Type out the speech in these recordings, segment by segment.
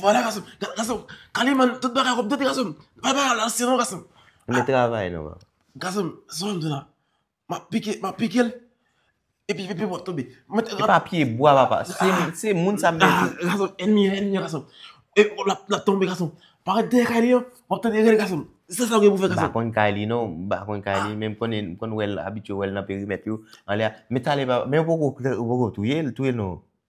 Vwala gason Gason Kale man Tout bagay wap tande gason Bay bagay la ansyen non gason Mwen travay non Gason Sa wap di la Map pike Map pike l Epi epi wap tonbe Mwen te Se pa pye bwa papa Se moun sa mwen di Gason Gason Enmi an Enmi an gason E wap la Lap tonbe gason Paret dèyè kay li an Wap tande rèl gason Se sa ou gen pou fè gason M pa konn kay li non M pa konn kay li Men m konnen M konn wè l Abitye wè l nan perimèt yo Anlè a Men talè papa Men ou poko Ou poko touye l Touye l non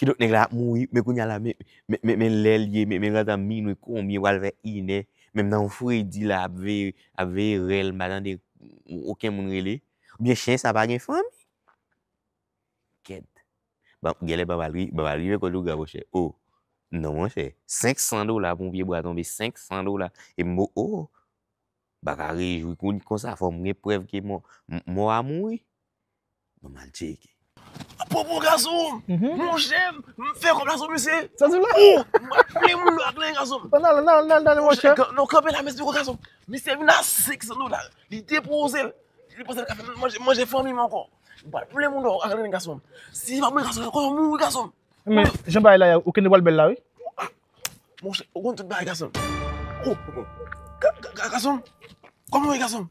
Kidonk nèg la ap mouri, men kounye a la men, men, men lè l ye, men, men gentan minwi konbyen pral vè inè, menm nan yon fredi la ap veye, ap veye rèl m pa tande oken moun rele. Oubyen chen sa pa gen fanmi? Kèt. Bon, gèlè Bab al ri, Bab al rive kot ou gran monchè. O! Non monchè, 500 dola pou yon pye bwa tonbe, 500 dola, e m o o! M pa ka rejwi konsa, fò m gen prèv ke mò, mò a mouri. Mwen mal tcheke. A pwopo gason, mon chè, m fè kòb la sou misye. Sa di w la? Ou, m ap plen moun yo ak len gason. An al, an al, an al mon chè. Non kanpe la mesye kou gason. Misye vin a 500 dola. Li depoze l. Li panse l ka fè manje, manje fanmi m ankò. M pral plen moun yo ak len gason. Si pa mwen gason, konnen w mouri gason. Men, jan bagay la ye, ou kende pral bèl la wi. Mon chè, ou konn tout bagay gason. Ou, gason, kòman w ye gason?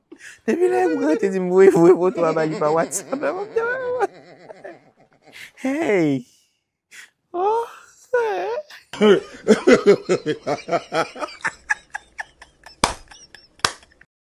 Depi lè m gran te di m voye voye foto a ba li pa WhatsApp la map janm anvi wè. Hey oh sè.